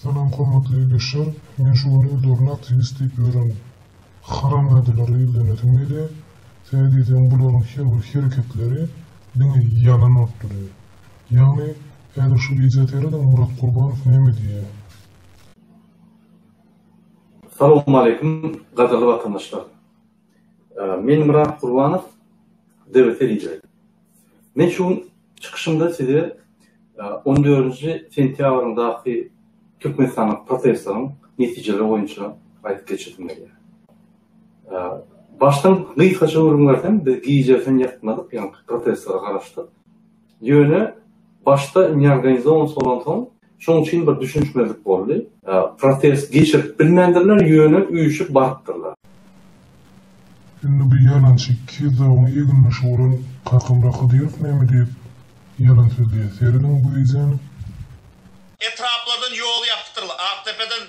Salam hormatly Beşşar. Men şu gün özlerini aktiwist diýip ýören haramzadalara ýüzlenesim gelýä. Sebäbi diýseň bularyň her bir hereketleri diňe ýalan bolup durýa. Ýagny häzir şu wideo serediň Murat Gurbanow näme diýýä. Salowmaleýkim gadyrly watandaşlar. Men Myrat Gurbanow, DW telewideniýesi. Men şu gün çykyşymda size on dördünji sentýabryndaky Türkmenistanda protestleriň netijeleri boýunça aýdyp geçesim gelýär. Başdan gysgaça gürrüň bersem, biz gijä sen ýatmadyk, ýaňky protestlere garaşdyk. Ýöne başda neorganizowanysi bolansoň, şonuň üçin bir düşünişmezlik boldy. Protest geçirip bilmändirler, ýöne üýşüp barypdyrlar. Indi bu ýalançy iki zogyň egin-mişi bolan Kakam Rakydyýew näme diýip ýalan sözleýär, serediň bu wideony. Etraplardan ýol ýapytyrly, Akdepeden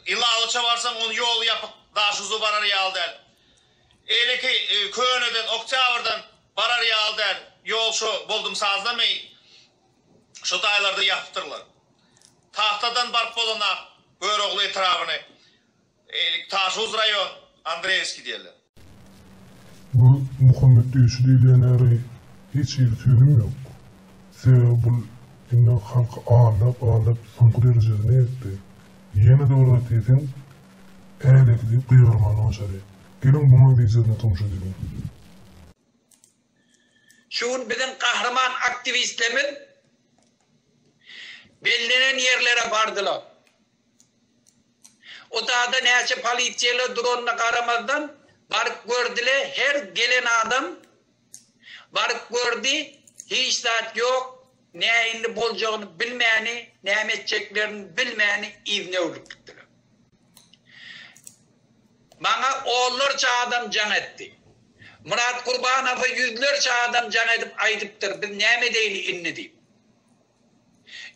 Ilawaça barsaň, onuň ýoly ýapyk, daşuza barar ýaly däl. Eýleki Köneden, Oktýabrdan barar ýaly däl. Ýol şo Boldumsazlamy şu taýlarda ýapypdyrlar. Tagtadan baryp bolanam Görogly etrabyny, eýleki Taşuz raýon, Andreýewskiý diýerler. Bu Muhammet döşi diýilýän ýary hiç hili sözüm ýok. Sebäbi bul indi halky aldap aldap soňky derejesine ýetdi. Ýene-de bir zat diýseň älekidi gygyrymandy başary. Geliň bu manzilsizine tomuş edeliň. Şu gün biziň gahryman aktiwistlerimiz bellenen ýerlere bardylar. Otada näçe polisiýalar duranyna garamazdan baryp gördile her gelen adam baryp gördi hiç zat ýok näinli boljagyny bilmäni näme etjeklerini bilmäni yzyna öwrülip gitdiler. Maňa onlarça adam jaň etdi. Myrat Gurbanowa ýüzlerçe adam jaň edip aýdypdyr biz näme edeýli indi diýip.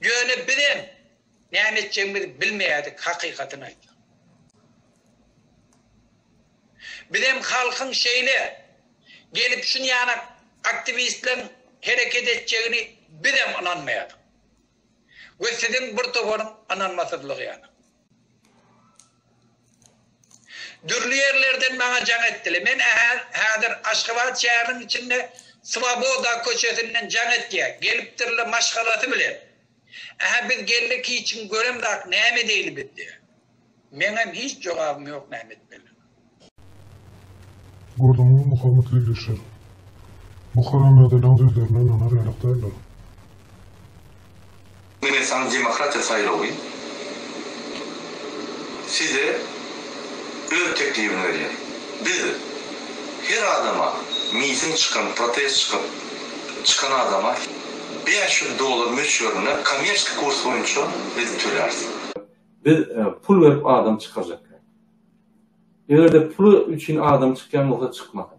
Ýöne bizem näme etjegimizi bilmeýärdik hakykatyny aýtsak. Bizem halkyň şeýle gelip şun ýana aktiwistleriň hereket etjegini bizem ynanmaýardyk. We siziň bir toparyň ynanmasyzlygy ýana. Dürli ýerlerden maňa jaň etdiler. Men häzir Aşgabat şäheriniň içinde Swoboda köçesinden jaň etýär. Gelipdirler maşgalasy bilen. Ähä biz geldik hiç kim göremzak näme edeýli biz diýýär. Meňem hiç jogabym ýok näme etmeli. Gürrüňiň mukamyt gepleşer. Bu haramzadalaň sözlerine ynanar ýalak däldir. Mine saňa demokratiýa saýlawy. Size öz teklibini berýär. Biz her adama miting çykan, protest çykyp çykan adama bäş ýüz dollar möçberinde kommersiýa kurs boýunça biz töläris. Biz pul berip adam çykarjak. Eger-de pul üçin adam çykýan bolsa çykmasyn.